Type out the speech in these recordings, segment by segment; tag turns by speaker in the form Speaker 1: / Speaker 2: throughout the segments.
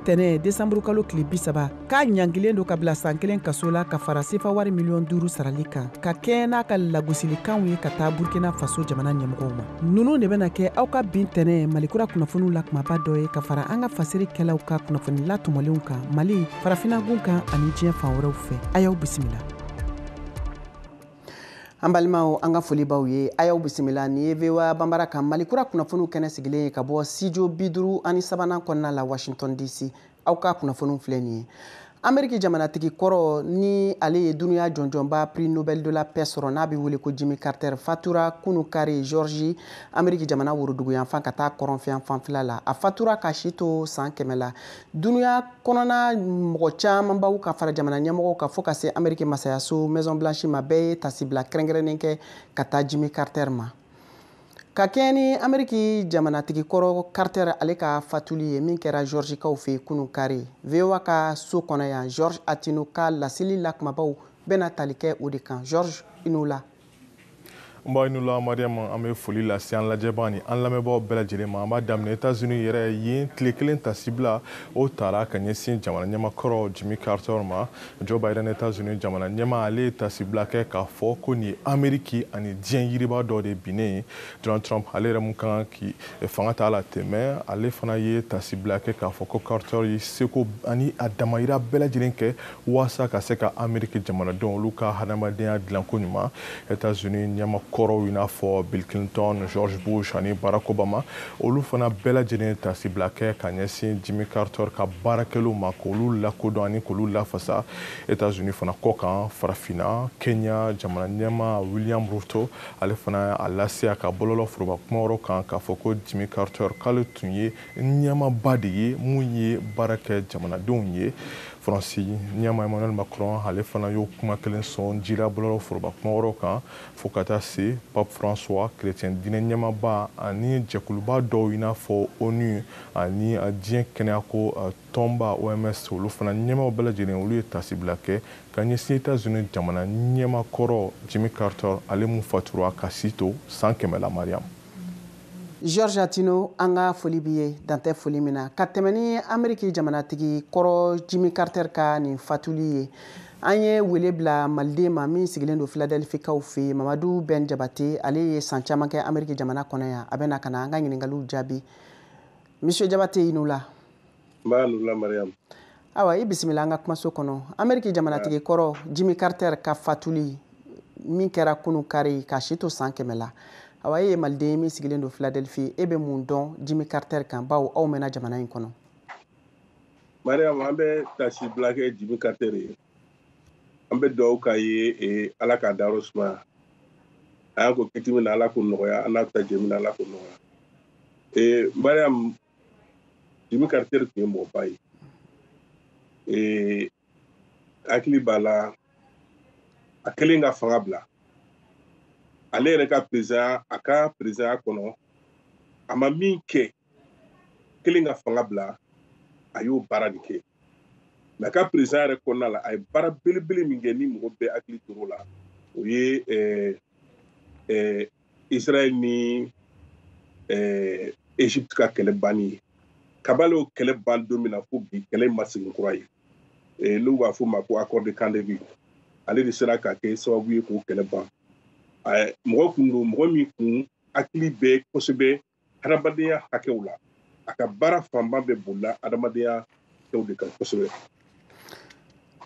Speaker 1: tɛnɛ desanburukalo tile bisaba k'a ɲangilen don ka bila san kelen kaso la ka fara sefa wari miliyɔn duuru sarali kan ka kɛɲɛ n'a ka lagosilikanw ye ka taa burkina faso jamana ɲɛmɔgɔw ma nunu de bɛna kɛ aw ka bin tɛnɛ malikura kunnafoniw la kumaba dɔ ye ka fara an ka fasirikɛlaw ka kunnafoni latɔmɔlenw kan mali farafinagun kan ani diɲɛ fan wɛrɛw fɛ a y'aw bisimila an balimaw an ka foli b'aw ye a y'aw bisimila nin ye voa banbara kan malikura kunnafoniw kɛnɛ sigilen ye ka bɔ studio bi duuru ani sabanan kɔnɔna la washington dc aw ka kunnafoniw filɛ nin ye ameriki jamanatigi kɔrɔ ni ale ye dunuya jɔnjɔnba prix nobel de la paix sɔrɔ n'a bɛ wele ko jimmy carter fatura kunu kari georgie ameriki jamana woroduguyanfan ka taa kɔrɔnfɛyanfan fɛla la a fatura k'a si to saan kɛmɛ la Dunuya kɔnɔna mɔgɔ camanbaw ka fara jamana ɲɛmɔgɔw ka fɔ ka se Ameriki masayaso Maison Blanche ma bɛɛ ye tasibila kɛrɛnkɛrɛnnen kɛ ka taa Jimmy Carter ma. Ka kɛɲɛ ni Ameriki jamanatigi kɔrɔ Carter ale ka fatuli ye min kɛra Georgie kaw fɛ kunun kari, VOA ka so kɔnɔ yan Georges Attino ka laseli lakumabaw bɛna tali kɛ o de kan. Georges, i ni wula.
Speaker 2: nba i ni wula mariam an bɛ foli lase an lajɛbaa ni an lamɛnbaaw bɛɛ lajɛlen ma an b'a daminɛ etazini yɛrɛ yen tile kelen tasibila o tara ka ɲɛsin jamana ɲɛma kɔrɔ jimmy carter ma joe biden etazini jamana ɲɛma ale ye tasibila kɛ k'a fɔ ko nin ye ameriki ani diɲɛ yiriba dɔ de binnen ye donald trump ale yɛrɛ mun ka kan k'i fanga ta la tɛmɛ ale fana ye tasibila kɛ k'a fɔ ko carter ye seko ani a damayira bɛɛ lajɛlen kɛ waasa ka se ka ameriki jamanadenw olu ka hadamadenya dilanko ɲuman etats-unis ɲɛma kɔrɔw i n'a fɔ bill clinton george bush ani barack obama olu fana bɛɛ lajɛlen tasibila kɛ ka ɲɛsin jimmy carter ka baarakɛlenw ma k'olu lakodɔn ani k'olu lafasa etats-unis fana kɔ kan farafina kenya jamana ɲɛma william ruto ale fana a lase a ka bɔlɔlɔ foroba kumawɔrɔ kan k'a fɔ ko jimmy carter k'ale tun ye ɲɛmaba de ye mun ye baara kɛ jamanadenw ye faransi ɲɛma emmanuel macron ale fana y'o kuma kelen sɔn jira bɔlɔlɔ foroba kumawɔrɔ kan fo ka taa se pape françois chrétien diinɛ ɲɛmaba ani jɛkuluba dɔw i n'a fɔ onu ani diɲɛ kɛnɛyako tɔnba oms olu fana ɲɛmaw bɛɛ lajɛlen olu ye tasibila kɛ ka ɲɛsin etats unis jamana ɲɛma kɔrɔ jimmy carter ale mun fatura k'a si to san kɛmɛ la mariam
Speaker 1: Georges Attino an ka foli b'i ye dantɛ foli min na ka tɛmɛn ni ameriki jamanatigi kɔrɔ jimmy carter ka nin fatuli ye an ye wele bila maliden ma min sigilen don philadelphie kaw fɛ yen mamadu ben jabate ale ye san caman kɛ ameriki jamana kɔnɔ yan a bɛna ka na an ka ɲininkaliw jaabi monsieur jabate i ni wula
Speaker 3: awa i
Speaker 1: bisimila an ka kumaso kɔnɔ ameriki jamanatigi kɔrɔ jimi carter ka fatuli min kɛra kunu kari k'a si to san kɛmɛ la awa e ye maliden ye min sigilen don philadelphie e bɛ mun dɔn jimi carter kan bawo aw mɛnna jamana in
Speaker 3: kɔnɔ mariam an bɛ tasi bila kɛ jimi carter ye an bɛ dugawu k'a ye e, ala k'a dayɔrɔ sumaya a y'an kɔn kiti min na ala k'o nɔgɔya an n'a bɛ taa jɛ min na ala k'o nɔgɔya e, mariam jimi carter tun ye mɔgɔba ye ee hakili b'a la a kɛlen ka fanga bila ale yɛrɛ ka perezidanya a ka perezidanya kɔnɔ a ma min kɛ kɛlen ka fanga bila a y'o baara de kɛ mais a ka perezidanya yɛrɛ kɔnɔna la a ye baara belebele min kɛ ni mɔgɔ bɛɛ hakili tor'o la o ye ɛɛ ɛɛ israël ni egypte ka kɛlɛ banni ye kabini o kɛlɛ ban don min na fo bi kɛlɛ in ma segin kura ye n'u b'a f'o ma ko accord de camp david ale de sera ka kɛ sababu ye k'o kɛlɛ ban mɔgɔ kun don mɔgɔ min kun hakili bɛ kosɛbɛ hadamadenya hakɛw la a ka baara fanba bɛɛ bolila hadamadenya hakɛw de kan kosɛbɛ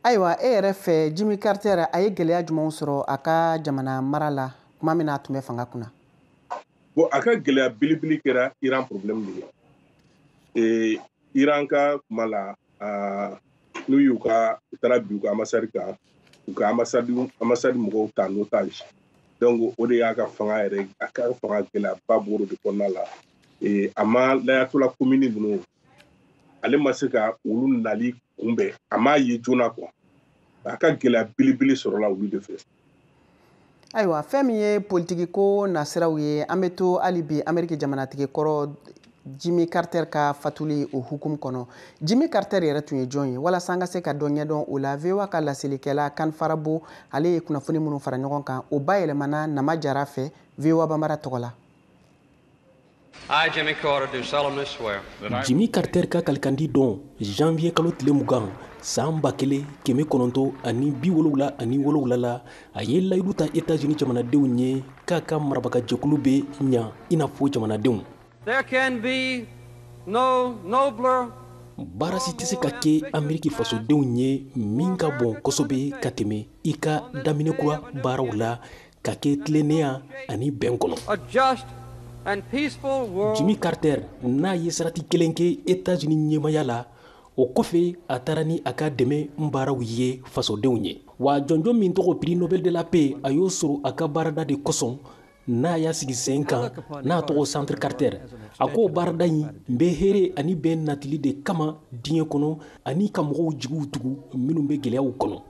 Speaker 1: ayiwa e yɛrɛ fɛ jimi carter a ye gɛlɛya jumɛnw sɔrɔ a ka jamana mara la tuma min na a tun bɛ fanga kunna bon
Speaker 3: a ka gɛlɛya belebele kɛra iran problème de ye iran ka kuma la aa n'u y'u ka u taara bin u ka ambassade kan u ka ambassade mɔgɔw ta en otage donc o de y'a ka fanga yɛrɛ a ka fanga gɛlɛyaba b'o de kɔnɔna la ee a ma l'ayatollah khomeini ninnu ale ma se ka olu nali kunbɛn a m'a ye joona quoi a ka gɛlɛya belebele sɔrɔla olu de fɛ
Speaker 1: ayiwa fɛn min ye politikiko nasiraw ye an bɛ to hali bi ameriki jamanatigi kɔrɔ jimi carter ka fatuli o hukumu kɔnɔ jimi carter yɛrɛ tun ye jɔn ye walasa an ka se ka dɔ ɲɛdɔn o la voa ka laselikɛla kane farabaugh ale ye kunnafoni minnu fara ɲɔgɔn kan o bayɛlɛmana nama jara fɛ voa bambara tɔgɔ la
Speaker 4: jimi
Speaker 5: carter ka kalikandi don janvier kalo tile mugan san ba kelen kɛmɛ kɔnɔntɔ ani bi wolowula ani wolowula la a ye layidu ta etats-unis jamanadenw ye k'a ka marabagajɛkulu bɛ ɲa i n'a fɔ
Speaker 4: jamanadenw baara
Speaker 5: si tɛ se ka kɛ ameriki fasodenw ye min ka bon kosɛbɛ ka tɛmɛ i ka daminɛ kura baaraw la ka kɛ tilennenya ani bɛn
Speaker 4: kɔnɔ jimi
Speaker 5: carter n'a ye sarati kelen kɛ etats-unis ɲɛmaya la o kɔfɛ a taara ni a ka dɛmɛ baaraw ye fasodenw ye wa jɔnjɔn min tɔgɔ prix nobel de la paix a y'o sɔrɔ a ka baarada de kosɔn n'a y'a sigi sen kan n'a tɔgɔ centre carter a k'o baarada in bɛ hɛɛrɛ ani bɛn natili de kama diɲɛ kɔnɔ ani ka mɔgɔw jigiw tugu minnu bɛ gɛlɛyaw kɔnɔ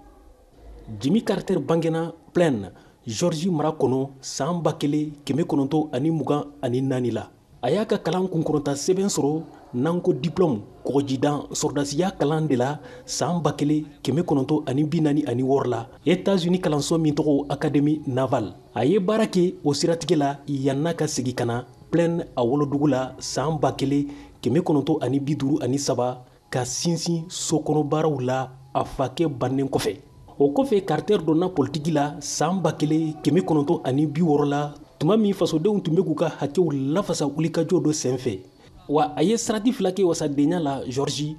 Speaker 5: jimi carter bangena plaine géorgie mara kɔnɔ saan ba kelen kɛmɛ kɔnɔntɔ ani mugan ani naani la a y'a ka kalan kunkɔrɔta sɛbɛn sɔrɔ n'an ko diplɔmu kɔgɔjidan sɔrɔdasiya kalan de la saan ba kelen kɛmɛ kɔnɔntɔ ani bi naani ani wɔɔrɔ la etats unis kalanso min tɔgɔ académie navale a ye baara kɛ o siratigɛ la yann'a ka segi ka na plaine a wolodugu la saan ba kelen kɛmɛ kɔnɔntɔ ani bi duuru ani saba ka sinsin sokɔnɔbaaraw la a fakɛ bannen kɔfɛ o kɔfɛ carter donna politiki la saan ba kelen kɛmɛ kɔnɔntɔn ani bi wɔɔrɔ la tuma min fasodenw tun bɛ k'u ka hakɛw lafasa wulikajɔ dɔ senfɛ wa a ye sarati fila kɛ wasadenya la géorgie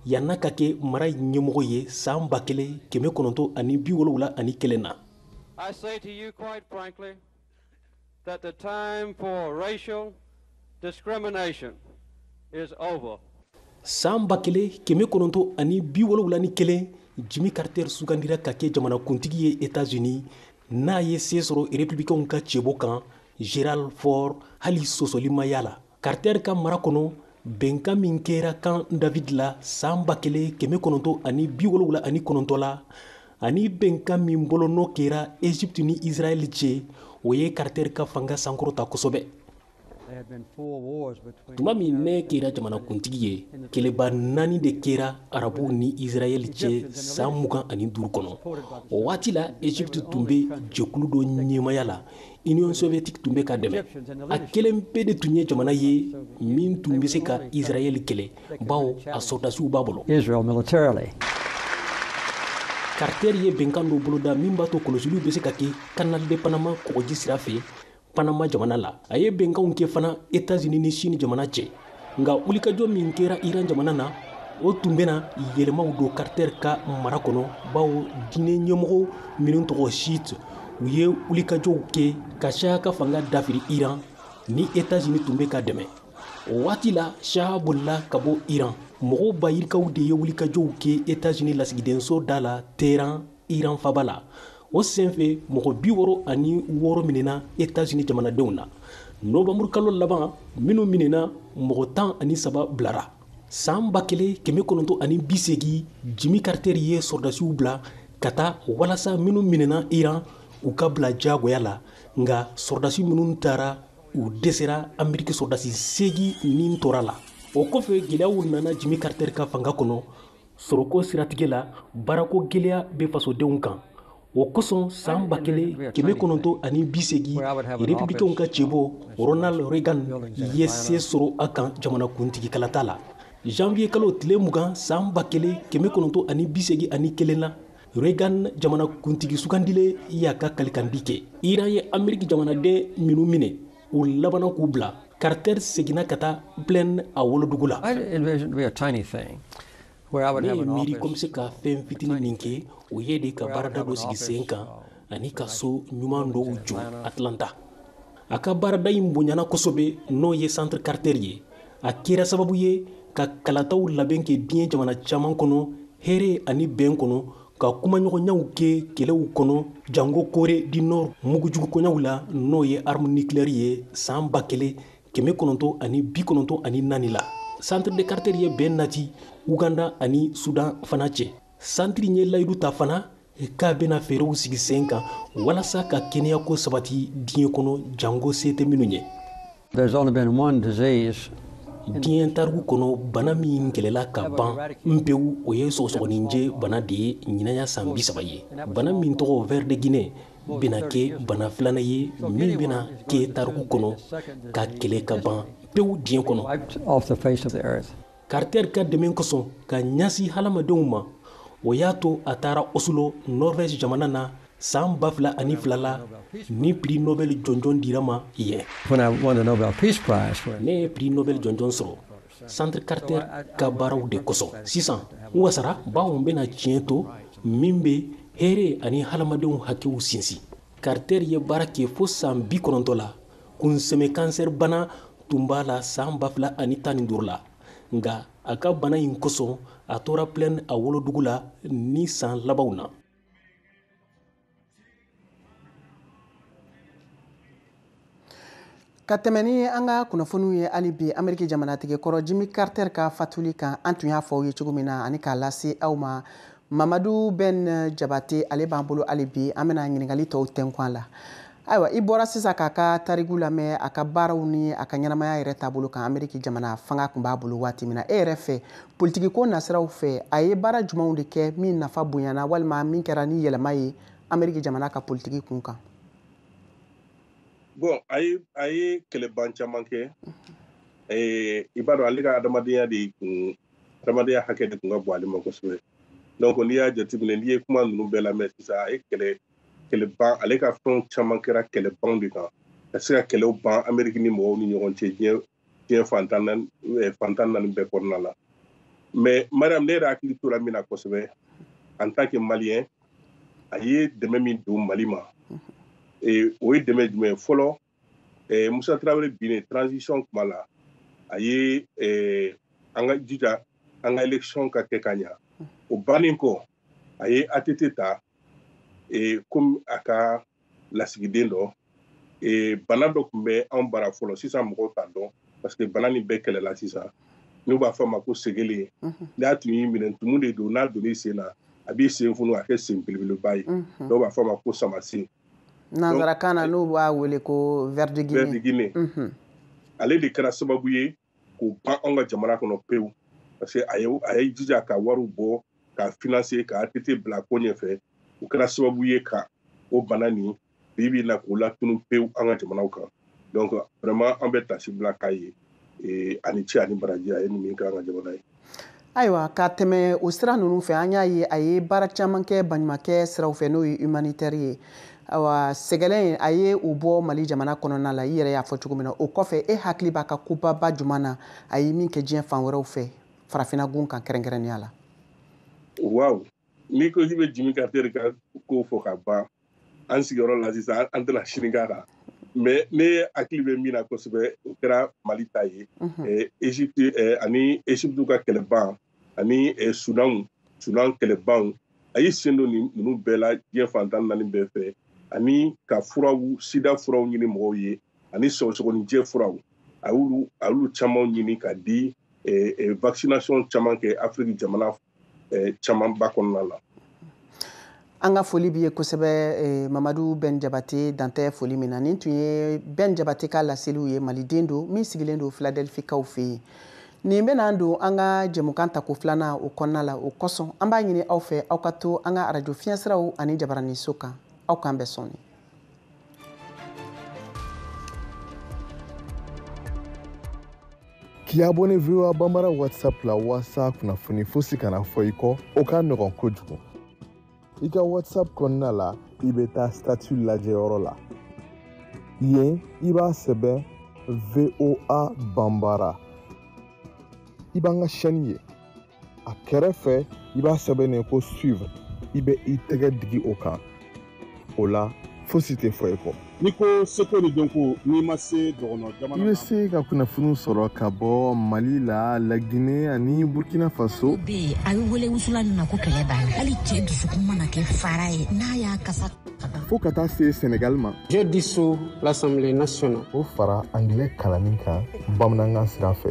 Speaker 5: yann'a ka kɛ mara ɲɛmɔgɔ ye saan ba kelen kɛmɛ kɔnɔntɔn ani bi wolowula ani kelen na
Speaker 4: that the time for racial discrimination is over. san ba
Speaker 5: kelen kɛmɛ kɔnɔntɔ ani bi wolowula ni kelen jimi carter sugandira ka kɛ jamanakuntigi ye etats unis n'a ye see sɔrɔ republicainw ka cɛbɔ kan gerald ford hali sɔsɔli ma y'a la Carter ka mara kɔnɔ bɛnkan min kɛra Camp David la san ba kelen kɛmɛ kɔnɔntɔn ani bi wolonwula ani kɔnɔntɔn la ani bɛnkan min bolonɔ kɛra Egypte ni Israel cɛ o ye Carter ka fanga sankɔrɔta kosɛbɛ. Tuma min ne kɛra jamanakuntigi ye, kɛlɛba naani de kɛra Arabuw ni Israel cɛ san mugan ani duuru kɔnɔ. O waati la, Egypte tun bɛ jɛkulu dɔ ɲɛmaya la Union soviétique tun bɛ k'a dɛmɛ a kelen pe de tun ye jamana ye min tun bɛ se ka Israël kɛlɛ bawo a sɔrɔdasiw b'a bolo Israel militarily Carter ye bɛnkan dɔ boloda min b'a to kɔlɔsiliw bɛ se ka kɛ Canal de Panama kɔgɔji sira fɛ Panama jamana la a ye bɛnkanw kɛ fana Etats-Unis ni Chine jamana cɛ nka wulikajɔ min kɛra iran jamana na o tun bɛna yɛlɛmaw don carter ka mara kɔnɔ bawo diinɛ ɲɛmɔgɔ minnu tɔgɔ chiite u ye wulikajɔw kɛ ka shah ka fanga dafiri iran ni etats-unis tun bɛ k'a dɛmɛ o waati la shah bolila ka bɔ iran mɔgɔw bayirikaw de ye wulikajɔw kɛ etats-unis lasigidenso da la téhéran iran faba la o senfɛ mɔgɔ bi wɔɔrɔ ani wɔɔrɔ minɛna etazini jamanadenw na nowanburukalo laban minnu minɛna mɔgɔ tan ani saba bilara saan ba kelen kɛmɛ kɔnɔntɔ ani bisegi jimi karitɛri ye sɔrɔdasiw bila ka taa walasa minnu minɛna iran u ka bila jagoya la nka sɔrɔdasi minnu taara u dɛsɛra ameriki sɔrɔdasi segi ni tora la o kɔfɛ gɛlɛyaw nana jimi karitɛri ka fanga kɔnɔ Sɔrɔko siratigɛ la baarako gɛlɛya bɛ fasodenw kan o kosɔn san ba kelen kɛmɛ kɔnɔntɔn ani bi segin republikɛnw ka cɛbɔ Ronald Reagan ye se sɔrɔ a kan jamanakuntigikalata la zanwiye kalo tile mugan san ba kelen kɛmɛ kɔnɔntɔn ani bi segin ani kelen na Reagan jamanakuntigi sugandilen y'a ka kalikan di kɛ Iran ye Ameriki jamanaden minnu minɛ u labanna k'u bila Carter seginna ka taa Plains a wolodugu la. I envisioned to be a tiny thing where I would have an office. Ne ye miiri ko n bɛ se ka fɛn fitinin min kɛ, o ye de ka baarada dɔ sigi sen kan ani ka so ɲuman dɔw jɔ Atlanta. A ka baarada in bonyana kosɛbɛ n'o ye Centre Carter ye. A kɛra sababu ye ka kalataw labɛn kɛ diɲɛ jamana caman kɔnɔ hɛrɛ ani bɛn kɔnɔ ka kumaɲɔgɔnyaw kɛ kɛlɛw kɔnɔ jango kore di nɔr mugujugukoɲaw la n'o ye arme nucléaire ye saan ba kelen kɛmɛ kɔnɔntɔ ani bi kɔnɔntɔ ani naani la centre de carter ye bɛn nati uganda ani sudan fana cɛ santiri ye layidu ta fana k'a bɛna fɛɛrɛw sigi sen kan walasa ka kɛnɛyako sabati diɲɛ kɔnɔ jango se tɛ minnu ye There's only been one disease diɲɛ tariku kɔnɔ bana min kɛlɛla ka ban pewu o ye sɔgɔsɔgɔninjɛ bana de ye ɲinan y'a san bi saba ye bana min tɔgɔ ver de Guinée bɛna kɛ bana filanan ye min bɛna kɛ tariku kɔnɔ ka kɛlɛ ka ban pewu diɲɛ kɔnɔ Carter ka dɛmɛ kosɔn ka ɲasi halamadenw ma o y'a to a taara Oslo Norvège jamana na san ba fila ani fila la ni prix Nobel jɔnjɔn dira a ma yen. Ne ye prix Nobel jɔnjɔn sɔrɔ Centre Carter ka baaraw de kosɔn. Sisan n wasara bawo n bɛna tiɲɛ to min bɛ hɛɛrɛ ani halamadenw hakɛw sinsin. Carter ye baara kɛ fo san bi kɔnɔntɔ la kunsɛmɛ kansɛri bana tun b'a la saan ba fila ani tan ni duuru la nka a ka bana in kosɔn a tora plɛn a wolodugu la nin saan labanw na
Speaker 1: ka tɛmɛ ni an ka kunnafoniw ye hali bi ameriki jamanatigi kɔrɔ jimi carter ka fatuli kan an tun y'a fɔ aw ye cogo min na ani k'a lase aw ma mamadu bɛn jabate ale b'an bolo hali bi an bɛna ɲininkali tɔw tɛnkun a la ayiwa i bɔra sisan k'a ka tariku lamɛn a ka baaraw ni a ka ɲɛnamaya yɛrɛ taabolo kan ameriki jamana fanga tun b'a bolo waati min na e yɛrɛ fɛ politikiko nasiraw fɛ a ye baara jumanw de kɛ min nafa bonyana walima min kɛra ni yɛlɛma ye ameriki jamana ka politiki kun
Speaker 3: kan bon a ye a ye kɛlɛban caman kɛ i b'a dɔn ale ka adamadenya de kun adamadenya hakɛ de tun ka bon ale ma kosɛbɛ donc n'i y'a jateminɛ n'i ye kuma ninnu bɛɛ lamɛn sisan a ye kɛlɛ kɛlɛban ale ka fɛnw caman kɛra kɛlɛbanw de kan ka se ka kɛlɛw ban ameriki ni mɔgɔw ni ɲɔgɔn cɛ diɲɛ diɲɛ fan tan naani eh, fan tan naani bɛɛ kɔnɔna la mais mariam ne yɛrɛ hakili tora min na kosɛbɛ en tant que maliyɛn a ye dɛmɛ min don mali ma mhm. eh, o ye dɛmɛ jumɛn fɔlɔ eh, musa tarawele binnen transition kuma la a ye eh, an ka jija an ka election ka kɛ ka ɲa o bannen kɔ a ye att ta eh, komi a ka lasigiden dɔ eh, bana dɔ tun bɛ anw bara fɔlɔ sisan mɔgɔw t'a dɔn parce que bana nin bɛɛ kɛlɛla sisan n'u b'a fɔ a ma ko segele n'a tun y'i minɛ tumu de don n'a donn'i sen na a b'i sen funu a kɛ sen belebeleba ye dɔw b'a fɔ a ma ko samasen
Speaker 1: nanzarakan na n'u b'a wele ko ver de guinée mhm. ale
Speaker 3: de kɛra sababu ye k'o ban anw ka jamana kɔnɔ pewu parce que a ye a ye jija ka wariw bɔ k'a finanse ka att bila ko ɲɛfɛ o kɛra sababu ye ka o bana nin bi bi na k'o latunu pewu an ka jamanaw kan donc vraiment an bɛ taasi bila k'a ye eh, a ni ce a ni baraji a ye nin min k'an ka jamana ye ayiwa
Speaker 1: ka tɛmɛ o sira ninnu fɛ an y'a ye a ye baara caman kɛ baɲumakɛ siraw fɛ n'o ye humanitɛri ye awa sɛgɛlɛn a ye o bɔ mali jamana kɔnɔna la i yɛrɛ y'a fɔ cogo min na o kɔfɛ e hakili b'a ka kobaba juman na a ye min kɛ diɲɛ fan wɛrɛw fɛ farafina gun kan kɛrɛnkɛrɛnnenya la waaw
Speaker 3: n'i ko k'i bɛ jimmy carter ka ko fɔ ka ban an sigiyɔrɔ la sisan an tɛna sini k'a kan mais ne hakili bɛ min na kosɛbɛ o kɛra mali ta ye egypte ani egypte ka kɛlɛban ani sudanw sudan kɛlɛbanw a y'i sen don nin ninnu bɛɛ la diɲɛ fan tan naani bɛɛ fɛ ani ka furaw sida furaw ɲini mɔgɔw ye ani sɔgɔsɔgɔninjɛ furaw a y'olu a y'olu caman ɲini ka di vaccination caman kɛ afiriki jamana eh, camanba kɔnɔna
Speaker 1: la an ka foli b'i ye kosɛbɛ eh, mamadu bɛn jabate dan tɛ foli min na nin tun ye bɛn jabate ka laseliw ye maliden don min sigilen don filadelfikaw fɛ yen nin bɛn'an don an ka jɛmukan tako filanan o kɔnɔna la o kosɔn an b'a ɲini aw fɛ aw ka to an ka arajo fiɲɛsiraw ani jabaraniso kan aw k'an bɛn sɔɔni
Speaker 2: K'i abonné VOA Bambara WhatsApp la walasa kunnafoni fosi kana fɔ i kɔ, o ka nɔgɔn kojugu. I ka WhatsApp kɔnɔna la, i bɛ taa statut lajɛyɔrɔ la. Yen, i b'a sɛbɛn VOA Bambara. I b'an ka chaîne ye. a kɛrɛfɛ i b'a sɛbɛnnen ko suivre i bɛ i tɛgɛ digi o kan o la fosi tɛ fɔ i kɔ n'i ko seko
Speaker 6: ni dɔnko n'i ma se dɔgɔnɔ jamana i bɛ se ka
Speaker 2: kunnafoniw sɔrɔ ka bɔ mali la lagine ani burkina faso bɛ yen a bɛ
Speaker 7: wele wusulan min ma ko kɛlɛ banna hali cɛ dusukun mana kɛ fara ye n'a y'a kasa fo ka taa se
Speaker 2: senegal ma je
Speaker 8: dissous l'assemblée nationale o fara angilɛ
Speaker 2: kalanni kan bamanankan sira fɛ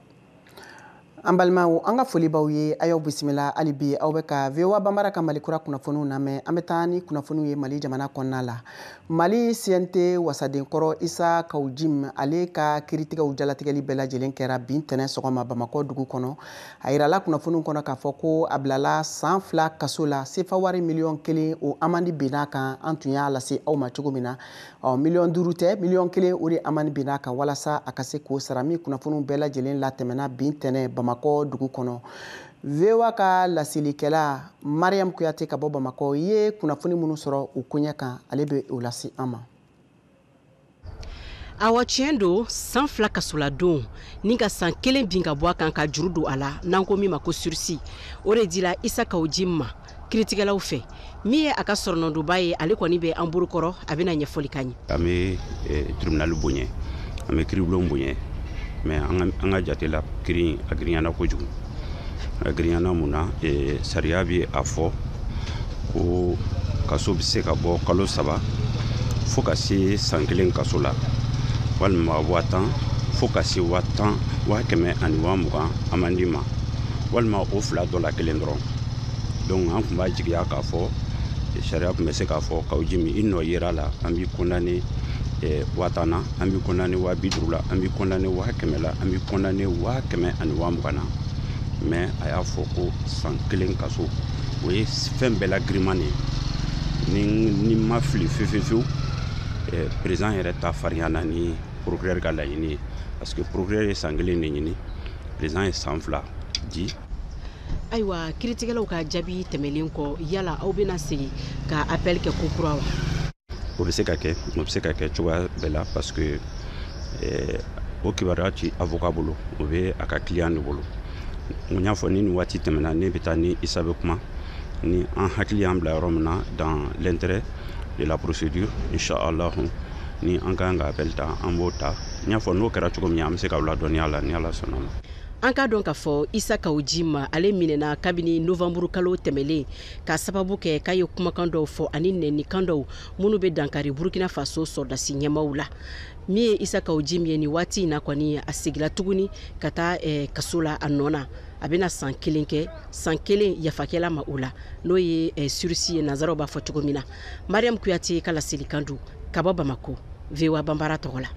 Speaker 1: an balimaw an ka foli b'aw ye a y'aw bisimila hali bi aw bɛ ka voa banbara ka mali kura kunnafoniw lamɛn an bɛ taa ni kunnafoniw ye mali jamana kɔnɔna la mali cnt wasaden kɔrɔ isa kaw jim ale ka kiritigɛw jalatigɛli bɛɛ lajɛlen kɛra bi ntɛnɛn sɔgɔma bamakɔ dugu kɔnɔ a yirala kunnafoniw kɔnɔ k'a fɔ ko a bilala san fila kaso la sefa wari miliyɔn kelen o amandi binna a kan an tun y'a lase aw ma cogo min na ɔ miliyɔn duuru tɛ miliyɔn kelen o de amandi binna a kan walasa a ka se k'o sara min kunnafoniw bɛɛ lajɛlen latɛmɛna bi ntɛnɛn bamakɔ dugu kɔnɔ voa ka laselikɛla mariam kuyate ka bɔ bamakɔ ye kunnafoni minnu sɔrɔ o koɲɛ kan ale bɛ o lase an
Speaker 9: ma awa tiɲɛ don san fila kasoladon ni ka san kelen bin ka bɔ a kan ka juru don a la n'an ko min ma ko sursis o de dira isa kaw jim ma kiritigɛlaw fɛ min ye a ka soronadonbaa ye ale kɔni bɛ an bolokɔrɔ a bɛna ɲɛfɔli k'an ye an bɛ
Speaker 10: eh, tribunali bonya an bɛ kiribulon bonya mais an ka jate la kiri a girinyana kojugu a girinyana mun na eh, sariya bɛ a fɔ ko kaso bɛ se ka bɔ kalo saba fo ka se san kelen kaso la walima waa tan fo ka se waa tan waa kɛmɛ ani waa mugan amandi ma walima o fila dɔ la kelen dɔrɔn donc an tun b'a jigiya k'a fɔ sariya tun bɛ se k'a fɔ kaw jim i nɔ yer'a la an b'i condamné eh, waa tan na an b'i condamné waa bi duuru la an b'i condamné waa kɛmɛ la an b'i condamné waa kɛmɛ ani waa mugan na mais a y'a fɔ ko san kelen kaso o ye fɛn bɛɛ la giriman de ye ni ne ma fili fefefewu eh, président yɛrɛ ta farinyana ni procureur ka laɲini ye parce que procureur ye san kelen de ɲini président ye san fila di
Speaker 9: ayiwa kiritigɛlaw ka jaabi tɛmɛlen kɔ yala aw bɛna segin ka appel kɛ kokura wa o bɛ
Speaker 10: se ka kɛ o bɛ se ka kɛ cogoya bɛɛ la parce que eh, o kibaruya ti avocat bolo o bɛ a ka client de bolo n y'a fɔ ni nin waati tɛmɛna ne bɛ taa ni isa bɛ kuma ni an hakili y'an bila yɔrɔ min na dans l'intérêt de la procédure inchallahu ni an ka kan ka appel ta an b'o ta n y'a fɔ n'o kɛra cogo min an bɛ se k'aw ladɔnniya a la ni ala sɔnna ma an k'a dɔn k'a
Speaker 9: fɔ isa kawu jim ale minɛna kabini novanburu kalo tɛmɛlen k'a sababu kɛ k'a ye kumakan dɔw fɔ ani nɛnikan dɔw minnu bɛ dankari burkina faso sɔrɔdasi ɲɛmaw la min ye isa kawu jim ye nin waati in na kɔni a segila tuguni ka taa eh, kaso la a nɔ na a bɛna san kelen kɛ san kelen yafa kɛla a ma o la n'o ye eh, surisi ye nanzaraw b'a fɔ cogo min na mariam kuyate ka laselikan don ka bɔ bamako voa banbara tɔgɔ la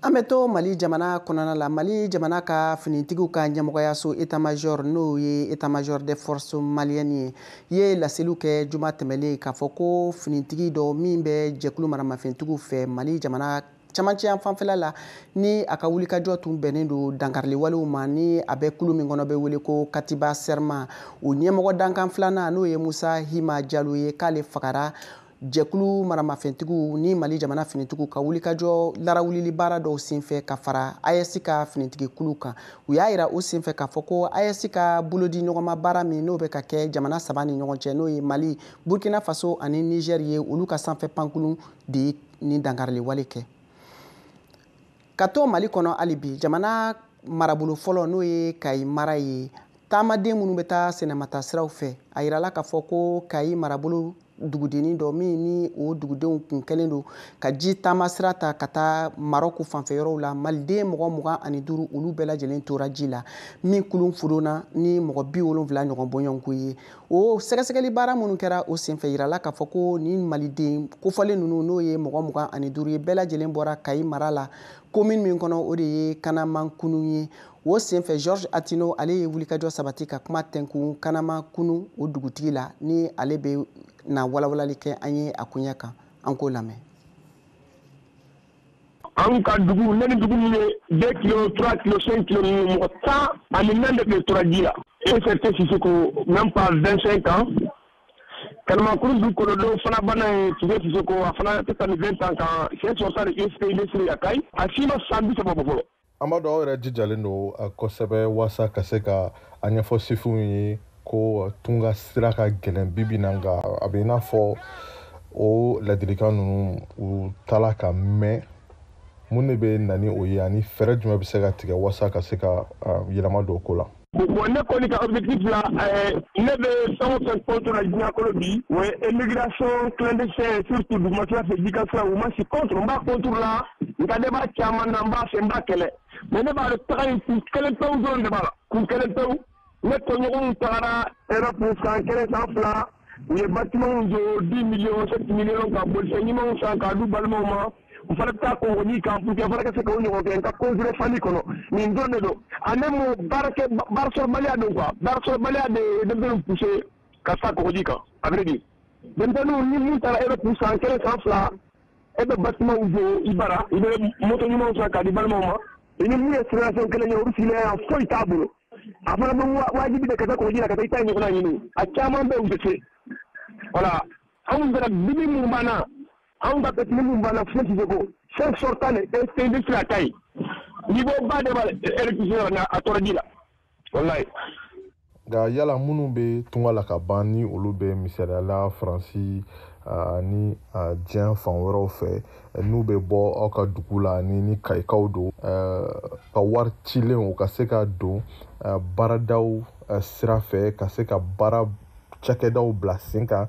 Speaker 1: an bɛ to mali jamana kɔnɔna la mali jamana ka finitigiw ka ɲɛmɔgɔyaso état-major n'o ye état-major des forces maliennes ye ye laseliw kɛ juma tɛmɛlen k'a fɔ ko finitigi dɔ min bɛ jɛkulu maramafɛntigiw fɛ mali jamana camancɛ yan fanfɛla la ni a ka wulikajɔ tun bɛnnen don dankariliwalew ma ni a bɛ kulu min kɔnɔ bɛ wele ko katiba sɛrma o ɲɛmɔgɔ dankan filanan n'o ye musa hima jalo ye k'ale fagara jɛkulu maramafɛntigiw ni mali jamana finitigiw ka wulikajɔ larawulili baara dɔw senfɛ ka fara aes ka finitigikulu kan u y'a yira o senfɛ k'a fɔ ko aes ka bolodiɲɔgɔnma baara min n'o bɛ ka kɛ jamana saba ni ɲɔgɔn cɛ n'o ye mali burkina faso ani niger ye olu ka sanfɛ pankurun de ye nin dankarili wale kɛ ka to mali kɔnɔ hali bi jamana marabolo fɔlɔ n'o ye kayi mara ye taamaden minnu bɛ taa sɛnɛmata siraw fɛ a yirala k'a fɔ ko kayi marabolo dugudennin dɔ min ni o dugudenw kun kɛlen don ka ji taama sira ta ka taa marɔku fanfɛyɔrɔw la maliden mɔgɔ mugan ani duuru olu bɛɛ lajɛlen tora ji la min kulun fudonna ni mɔgɔ bi wolonfila ɲɔgɔn bɔɲɔgɔnko ye o sɛgɛsɛgɛli baara minnu kɛra o senfɛ yirala k'a fɔ ko nin maliden kofɔlen ninnu n'o ye mɔgɔ mugan ani duuru ye bɛɛ lajɛlen bɔra kayi mara la komini min kɔnɔ o de ye kanamakunu ye o senfɛ georges atino ale ye wulikajɔ sabati ka kuma tɛnkun kanamakunu o dugutigi la ni ale bɛna walawalali kɛ an ye a koɲɛ kan an k'o lamɛn
Speaker 11: an ka dugu ne ni dugu min ye deux kilo trois kilo cinq kilo ninnu mɔgɔ tan ani naani de tun bɛ tora ji la ECT Sisoko même pas vingt cinq ans Kanamakunu dugu kɔnɔ dɔ fana banna ye Tise Sisoko a fana tɛ tɛmɛ vingt ans kan siɲɛ sɔrɔ ta de ISP Nesiri Yakayi a si ma san bi saba bɔ fɔlɔ an b'a dɔn aw
Speaker 2: yɛrɛ jijalen don uh, kosɛbɛ waasa ka se ka a ɲɛfɔ sifinw ye ko uh, tunga sira ka gɛlɛn bibi na nka a bɛ i n'a fɔ o ladilikan ninnu u t'a la ka mɛn mun de bɛ na ni o ye ani fɛɛrɛ jumɛn bɛ se ka tigɛ waasa ka se ka uh, yɛlɛma don ko la Bon ne kɔni
Speaker 11: ka objectif la ɛɛ ne bɛ fɛn o fɛn contre la diɲɛ kɔnɔ bi o ye immigration clandestine surtout dugumasira fɛ jikan sira u ma si contre n b'a contre la nka ne b'a caman na n b'a fɛ n b'a kɛlɛ mais ne b'a dɔn taga in kun kelen pewu dɔrɔn de b'a la kun kelen pewu ne tɔɲɔgɔnw tagara Europe san kelen san fila u ye batimanw jɔ 10 millions 7 millions ka bolifɛn ɲumanw san k'a d'u balimaw ma u fana bɛ taa kɔgɔji kan pour que fana ka se k'o ɲɔgɔn kɛ n ka considéré famille kɔnɔ nin dɔrɔn de don en un mot baarakɛ baarasɔrɔbaliya don quoi baarasɔrɔbaliya de ye denmisɛnninw pousser ka taa kɔgɔji kan à vrai dire denmisɛnninw ni mun taara Europe san kelen san fila e bɛ batimanw jɔ i bara i bɛ moto ɲumanw san k'a d'i balimaw ma i ni mun ye situation kelen ye olu sigilen yan foyi t'a bolo a fana bɛ wajibi de ka taa kɔgɔji la ka taa i ta ɲɔgɔnna ɲini a caman bɛ yen u tɛ se voilà anw fana bibi mun b'an na anw ka petini min banna fo siseko fo sortant de tɛnde sira ta ye niveau ba de b'a électricité yɔrɔ na a tora ji la walayi nka
Speaker 2: yala minnu bɛ tunga la ka ban ni olu bɛ misaliyala faransi ani diɲɛ fan wɛrɛw fɛ n'u bɛ bɔ aw ka dugu la ani ni kayikaw don ka wari cilen u ka se ka don baaradaw sira fɛ ka se ka baara cakɛdaw bila sen kan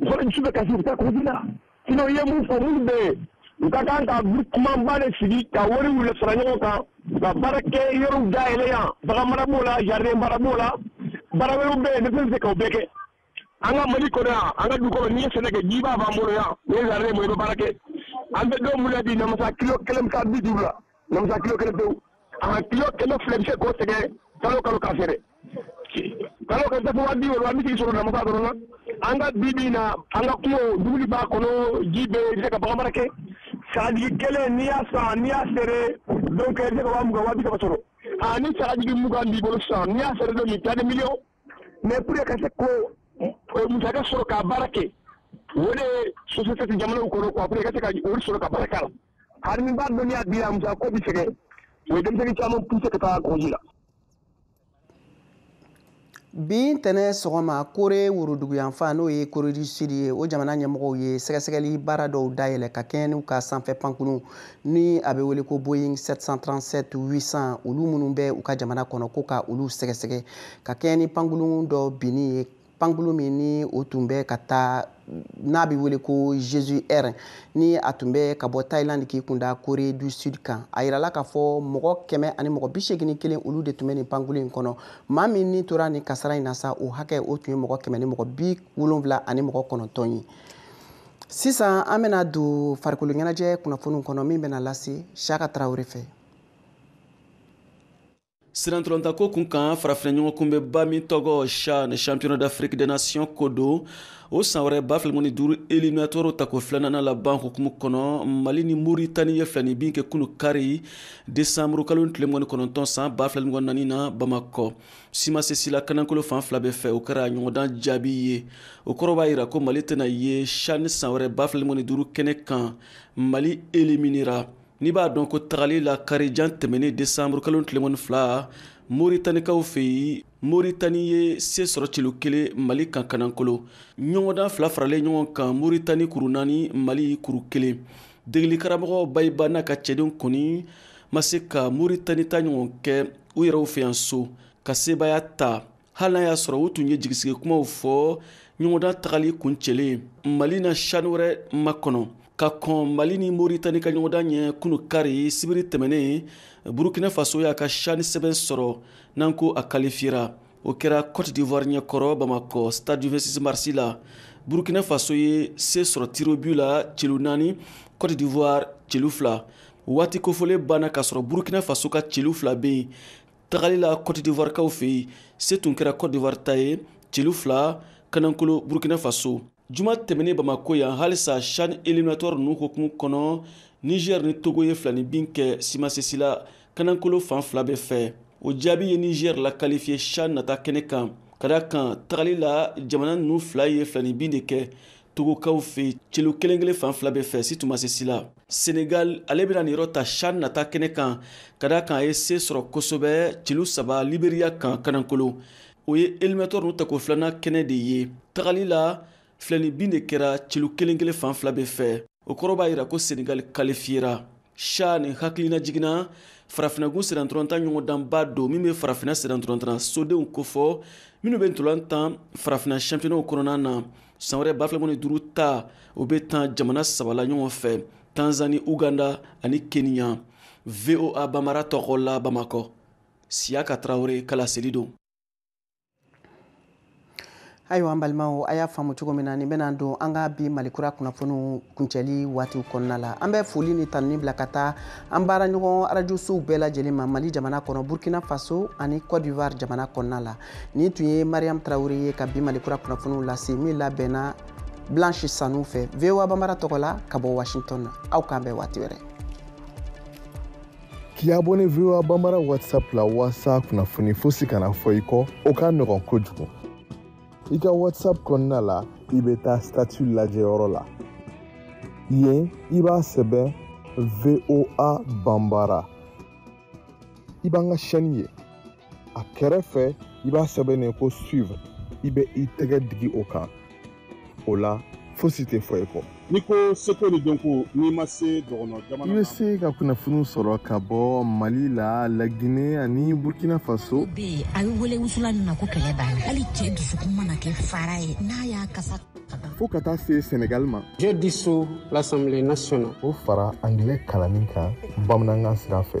Speaker 11: mɔgɔ dusu bɛ kasi u bɛ taa kɔgɔji la sinon i ye mun fɔ minnu bɛ yen u ka kan ka groupement ba de sigi ka wariw le fara ɲɔgɔn kan ka baara kɛ yɔrɔw dayɛlɛ yan bagan mara b'o la jardin baara b'o la baara wɛrɛw bɛ yen ne bɛ se k'o bɛɛ kɛ an ka mali kɔnɔ yan an ka du kɔnɔ n'i ye sɛnɛ kɛ jiba b'an bolo yan n'i ye jardin mɔ i bɛ baara kɛ an bɛ don min na bi namasa kilo kelen bɛ taa bi duuru la Mɛ kilo kelen kelen kilo ko tigɛ kalo kalo ka fɛ kalo an ka bi na an ka dugu b'a kɔnɔ ji bɛ ka bamanan kɛ sagaji kelen ni y'a san ni y'a sɔrɔ ni sagaji mugan b'i bolo san ni y'a sɔrɔ don nin tali mi mɛ p ka se ko mu sɔrɔ ka baara kɛ o de ye soso tɛ jamana kɔnɔ ka se ka sɔrɔ ka baara la Hali n'i b'a dɔn n'i y'a di yan musaka ko bɛ sɛgɛn o ye denmisɛn caman pousser ka taa kɔgɔji la
Speaker 1: bi ntɛnɛn sɔgɔma kore woroduguyanfan n'o ye kore du sud ye o jamana ɲɛmɔgɔw ye sɛgɛsɛgɛli baara dɔw dayɛlɛ ka kɛɲɛ n'u ka sanfɛ pankurun ni a bɛ wele ko boeing 737 800 olu minnu bɛ u ka jamana kɔnɔ ko ka olu sɛgɛsɛgɛ ka kɛɲɛ ni pankurun dɔ binni ye pankulu min ni o tun bɛ ka taa n'a bɛ wele ko jeju air ni a tun bɛ ka bɔ thailand k'i kunda corée du sud kan a yirala k'a fɔ mɔgɔ kɛmɛ ani mɔgɔ bi seegin kelen olu de tun bɛ nin pankulu in kɔnɔ maa min ni tora nin kasara in na sa o hakɛ o tun ye mɔgɔ kɛmɛ ni mɔgɔ bi wolonwula ani mɔgɔ kɔnɔntɔn ye sisan an bɛna don farikolo ɲɛnajɛ kunnafoniw kɔnɔ min bɛna lase siyaka tarawele fɛ
Speaker 12: sennantolatanko kun kan farafina ɲɔgɔnkunbɛnba min tɔgɔ chan championnat d'afrique des nations ko don o san wɛrɛ ba fila mugan ni duuru eliminatoire tako filanan laban hukumu kɔnɔ mali ni moritani ye filani bin kɛ kunu kari desanburu kalo tile mugan ni kɔnɔntɔn san ba fila mugan ni naani na bamakɔ si ma se si la kanankolo fan fila bɛɛ fɛ o kɛra ɲɔgɔndan jaabi ye o kɔrɔ b'a yira ko mali tɛna ye chan san wɛrɛ ba fila mugan ni duuru kɛnɛ kan mali eliminera N'i b'a dɔn ko tagali la karijan tɛmɛnen desanburu kalo tile mugan ni fila moritanikaw fɛ yen moritani ye se sɔrɔ celu kelen mali kan kanankolon ɲɔgɔndan fila faralen ɲɔgɔn kan moritani kuru naani mali kuru kelen degelikaramɔgɔ bayiba n'a ka cɛdenw kɔni ma se ka moritani ta ɲɔgɔn kɛ u yɛrɛw fɛ yan so ka sebaaya ta hali n'a y'a sɔrɔ u tun ye jigisigi kumaw fɔ ɲɔgɔndan tagali kuncɛlen mali na chan wɛrɛ makɔnɔ ka kɔn mali ni moritani ka ɲɔgɔndan ɲɛ kunu kari sibiri tɛmɛnen burukina faso y'a ka chan sɛbɛn sɔrɔ n'an ko a kalifiyera o kɛra cote d'ivoire ɲɛkɔrɔ bamakɔ stade du 26 marsi la burukina faso ye se sɔrɔ tir au but la celu naani cote d'ivoire celu fila waati kofɔlen banna k'a sɔrɔ burukina faso ka celu fila bɛ yen tagali la cote d'ivoire kaw fɛ yen se tun kɛra cote d'ivoire ta ye celu fila kanankolo burkina faso juma tɛmɛnen bamako yan halisa chan eliminatoire ninnu hukumu kɔnɔ niger ni togo ye filani bin kɛ si ma se si la kanankolo fan fila bɛɛ fɛ o jaabi ye niger lakalifiye chan nata kɛnɛ kan ka da kan tagali la jamana ninnu fila ye filani bin de kɛ togokaw fɛ yen celu kelen kelen fan fila bɛɛ fɛ si tun ma se si la senegal ale bɛna niyɔrɔ ta chan nata kɛnɛ kan ka da kan a ye se sɔrɔ kosɛbɛ celu saba liberiya kan kanankolo o ye eliminatoire ninnu tako filanan kɛnɛ de ye tagali la filani bin de kɛra celu kelen kelen fan fila bɛɛ fɛ o kɔrɔ b'a yira ko senegal kalifiyera chan hakililajigin na farafinagun sennantolatan ɲɔgɔndanba don min bɛ farafina sennantolatan sodenw kofɔ minnu bɛ ntola tan farafina championnatw kɔnɔna na san wɛrɛ ba fila mugan ni duuru ta o bɛ tan jamana saba la ɲɔgɔn fɛ tanzani uganda ani keniya voa bambara tɔgɔ la bamakɔ siyaka tarawele ka laseli don
Speaker 1: ayiwa an balimaw a y'a faamu cogo min na nin bɛna don an ka bi malikura kunnafoniw kuncɛli waatiw kɔnɔna la an bɛ foli ni tanuni bila ka taa an baara ɲɔgɔn arajosow bɛɛ lajɛlen ma mali jamana kɔnɔ burkina faso ani cote d'ivoire jamana kɔnɔna la nin tun ye mariam traoré ye ka bi mali kura kunnafoniw lase min labɛnna blanche sanu fɛ voa banbara tɔgɔ la ka bɔ washington aw k'an bɛn waati wɛrɛ
Speaker 2: k'i abonné voa banbara whatsapp la walasa kunnafoni fosi kana fɔ i kɔ o ka nɔgɔn kojugu i ka whatsapp kɔnɔna la i bɛ taa statut lajɛyɔrɔ la yen i b'a sɛbɛn voa banbara i b'an ka chaîne ye a kɛrɛfɛ i b'a sɛbɛnnen ko suivre i bɛ i tɛgɛ digi o kan o la fosi tɛ fɔ i kɔ n'i ko seko
Speaker 6: ni dɔnko n'i ma se dɔgɔnɔ jamana i bɛ se ka
Speaker 2: kunnafoni sɔrɔ ka bɔ mali la lagine ani burkina faso bɛ yen a bɛ
Speaker 7: wele wusulan min ma ko kɛlɛ banna hali cɛ dusukun mana kɛ fara ye n'a y'a kasa fo ka taa se
Speaker 2: senegal ma je
Speaker 8: dissous l'assemblée nationale o fara angilɛ
Speaker 2: kalanni kan bamanankan sira fɛ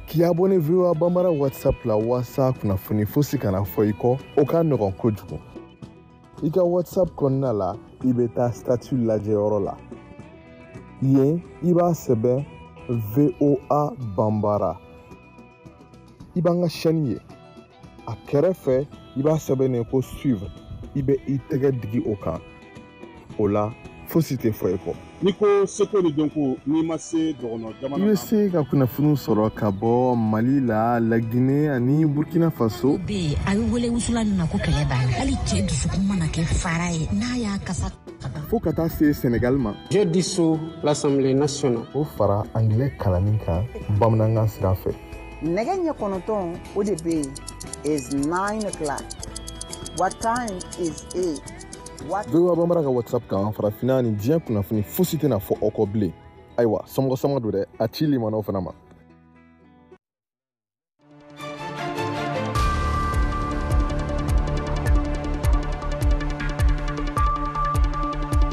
Speaker 2: k'i abonné voa banbara whatsapp la walasa kunnafoni fosi kana fɔ i kɔ o ka nɔgɔn kojugu i ka whatsapp kɔnɔna la i bɛ taa statut lajɛyɔrɔ la yen i b'a sɛbɛn voa banbara i b'an ka chaîne ye a kɛrɛfɛ i b'a sɛbɛnnen ko suivre i bɛ i tɛgɛ digi o kan o la fosi tɛ fɔ i kɔ n'i ko seko
Speaker 6: ni dɔnko n'i ma se dɔgɔnɔ jamana i bɛ se ka kunnafoni
Speaker 2: sɔrɔ ka bɔ mali la lagine ani burkina faso bɛ yen a bɛ
Speaker 7: wele wusulan min ma ko kɛlɛ banna hali cɛ dusukun mana kɛ fara ye n'a y'a kasa fo ka taa se
Speaker 2: senegal ma je
Speaker 8: dissous l'assemblée nationale o fara angilɛ
Speaker 2: kalanni kan bamanankan sira fɛ nɛgɛ
Speaker 13: ɲɛ kɔnɔntɔn o de bɛ yen it's 9 o'clock what time is it voa
Speaker 2: banbara ka whatsapp kan farafinna ni diɲɛ kunnafoni fosi tɛna fɔ aw kɔ bilen ayiwa somɔgɔ sama don dɛ a ci limanaw fana ma